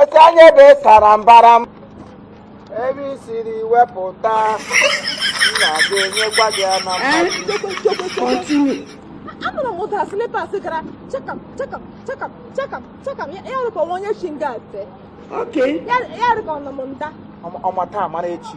otu anya ebe sara mbara m ebe i siri wepụta nna ga-enyekwa gị ya na mmaji anụrụ m ụda slipas gara chakam chakam chakam chakam chakam ya ya rụkwa nwa onye chi nga ate Okay. ya ya rụkwa nọ m nda ọmata amara echi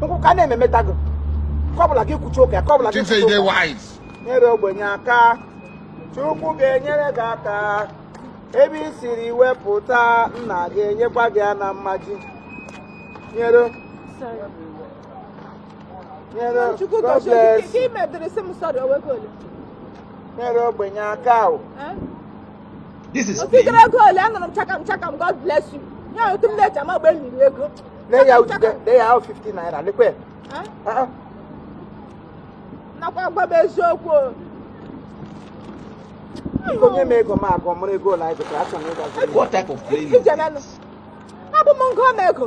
nkwụka na-ememeta gị kọbụla gị kwuchi ụka kọbụla gị kwuchi ụka nyere ogbenye aka chukwu ga-enyere gị aka ebe i siri wepụta nna ga-enyekwa gị ya na mmaji nyere nyere nyere ogbenye aka o This is Otu gara ego ole anụrụ m chakam chakam God bless you. Ya otu m na-eji ama mgbe m riri ego. Lee ya ude, lee ya ahụ 50 naira, lekwe. Eh? Ah, ah. Na-agwakwa m eziokwu o. Biko nye m ego m gụọ, mara ego ole anyị gụtara, achọrọ m ịgazi. What type of playing is Ije this? menụ. Hapụ m m gụọ m ego.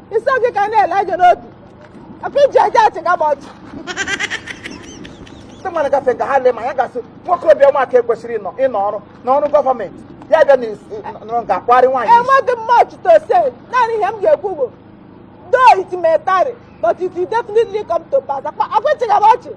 ịsọ gị ka na-ele anya n'obi afọ iji aja achịga m ọchị ndị mmadụ gafe ka ha lee m anya ga-asị nwoke obi ọma ka ekwesịrị ịnọ ịnọ ọrụ na ọrụ gọọmenti ya bịa na is- nọrọ nke akwari nwaanyị isi. enweghị m much to say naanị ihe m ga-ekwu bụ though it may tarry but it will definitely come to pass akwa akwa ị chịga m ọchị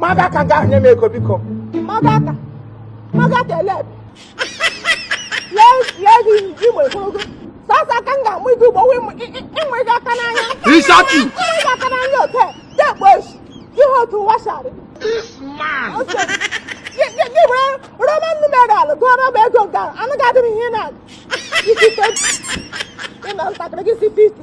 Maga aka nga ahụ nye m ego biko. Maga aka. Maga aka ele ebe. Lee ego igwe ogologo. Sọsọ aka m ga-ama ugbu a wụ imanye gị aka n'anya. Isaki. Imanye gị aka n'anya ote. Dekpo echi. Ihe otu ụwa shari. This man. Gị were Roman numeral gụọrọ m ego nke a. Anụ ga-adị m ihe na-adị. Isi ike. Ị na ntakịrị gị si 50.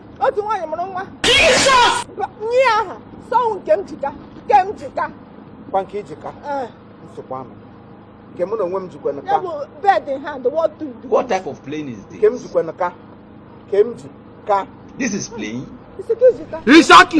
otu nwaanyị mụrụ nwa nye aha sị ọ wụ Nkemjika nke m jika kwa nke i ji ka eh. nsogbu ama nke mụ na onwe m jikwa nka bird in hand what to do what type of playing is this nke m jikwa nka nke m ji ka this is playing isiki jika isaki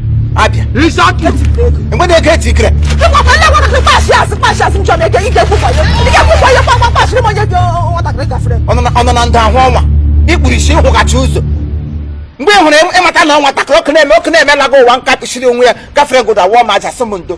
abịa Exactly. mgbe na-eke eti ikere Ịkwakwa ndị agwara gị kpasị asị kpasị asị nchọ m eke ike kwụkwa ya. Ike kwụkwa ya kpakwa kpasịrị m onye dị nwatakịrị gafere. ọ nọ na- ọ nọ na ndụ ahụ ọ wụ na i kpuru isi ị hụghachi ụzọ mgbe ị hụrụ ị mata na ọ nwatakịrị ọkụ na-eme ọkụ na-emelaga ụwa nka kpụchiri onwe ya gafere godo awụọ m aja sị m ndo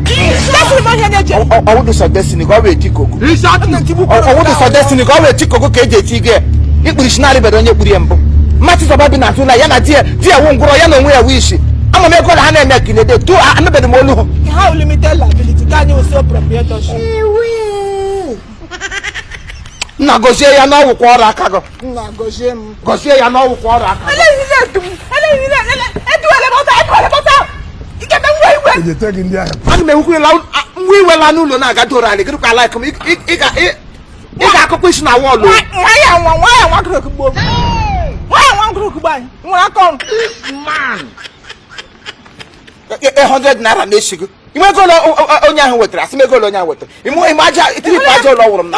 Destiny ma ihe na-eche. ọ wụ dị sọ destiny ka ọ wee tikoko ọ wụ dị sọ destiny ka ọ wee tikoko ka eji eti gị ikpuru isi narị bere onye kpuru ya mbụ mmatị zọba bi na tụla ya na di ya di ya wụ ngwụrọ ya na onwe ya wụ isi ama m ego ole ha na-eme ka ilede tu anụbeghị m olu ha wụ limited liability ka anyị wụ sole proprietorship nna gozie ya na ọgwụkwa ọrụ aka gị nna gọzie m gọzie ya na ọ wụkwa ọrụ aka ejete gị ndị ahụ ana m enwekwa ila nwa iwela n'ụlọ na-aga doro anyị gịrịkwa like m ị ga-akụkwa isi na wall nwaya nwa nwaya nwa gụrụ okugbo nwaya nwa gụrụ okugbo anyị nwere aka ọrụ 100 naira na-esi gị ime ego onye ahụ wetara asị m ego onye ahụ wetara ime aja itiripụ aja ụlọ wụrụ m na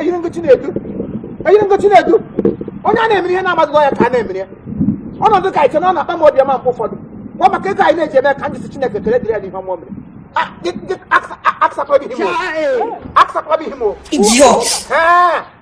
eyiri ngochi na-edu eyiri ngochi na-edu onye a na-emere ihe na-amaghị ọ ya ka a na-emere ya ọ nọdụ ka eche na ọ na-akpa m obi ọma mgbe ụfọdụ kwa maka ego anyị na-eji eme ka ndị sị Chineke ekele dịrị ya n'ihe ọma o mere aksakpọbighị m o aksakpọbighị m o Idiot! Ee!